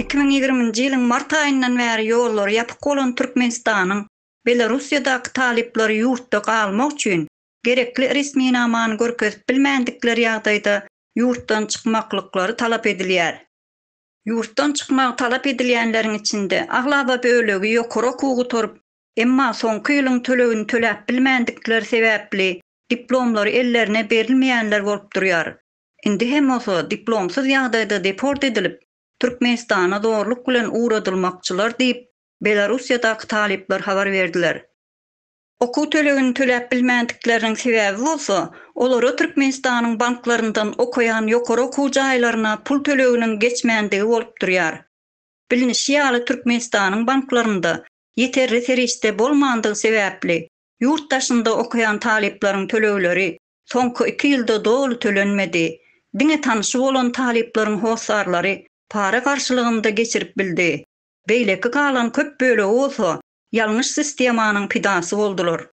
Iki müň ýigriminji ýylyň mart aýyndan bäri ýollary ýapyk bolan Türkmenistanyň Belorussiýadaky talyplary ýurtda galmak üçin gerekli resminamany görkezip bilmändikleri ýagdaýda ýurtdan çykmaklyklary talap edilýär. Ýurtdan çykmagy talap edilýänleriň içinde aglaba bölegi ýokary okuw gutaryp, emma soňky ýylyň tölegini töläp bilmändikleri sebäpli diplomlary ellerine berilmeýänler bolup durýar. Indi hem bolsa diplomsyz ýagdaýda deport edilip, Türkmenistana zorluk bilen ugradylmakçylar diýip, Belarussiýadaky talyplar habar berdiler. Okuw tölegini töläp bilmändikleriniň sebäbi bolsa, olara Türkmenistanyň banklaryndan okaýan ýokary okuw jaýlaryna pul töleginiň geçmändigi bolup durýar. Bilnişi ýaly, Türkmenistanyň banklarynda ýeterli serişde bolmandygy sebäpli, Ýurt daşynda okaýan talyplaryň tölegleri soňky iki ýylda doly tölenmedi. Diňe tanşy bolan talyplaryň hossarlary para garşylygynda geçirip bildi. Beýleki galan köp bölegi bolsa ýalňyş sistemanyň pidasy boldular.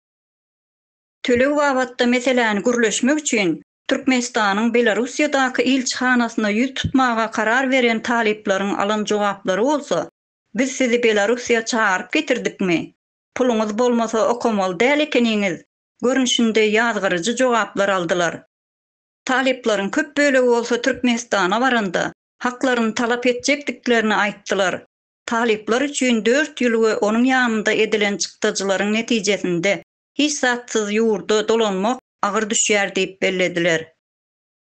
Töleg babatda meseläni gürleşmek üçin Türkmenistanyň Belarussiýadaky ilçihanasyna ýüz tutmaga karar beren talyplaryň alan jogaplary bolsa, Biz sizi Belarussiýa çagyryp getirdikmi? Puluňyz bolmasa okamaly däl ekeniňiz. Görnüşinde ýazgaryjy jogaplar aldylar. Talyplaryň köp bölegi bolsa Türkmenistana baranda, haklaryny talap etjekdiklerini aýtdylar. Talyplar üçin dört ýyl we onuň ýanynda edilen çykdajylaryň netijesinde hiç zatsyz ýurda dolanmak agyr düşýär diýip bellediler.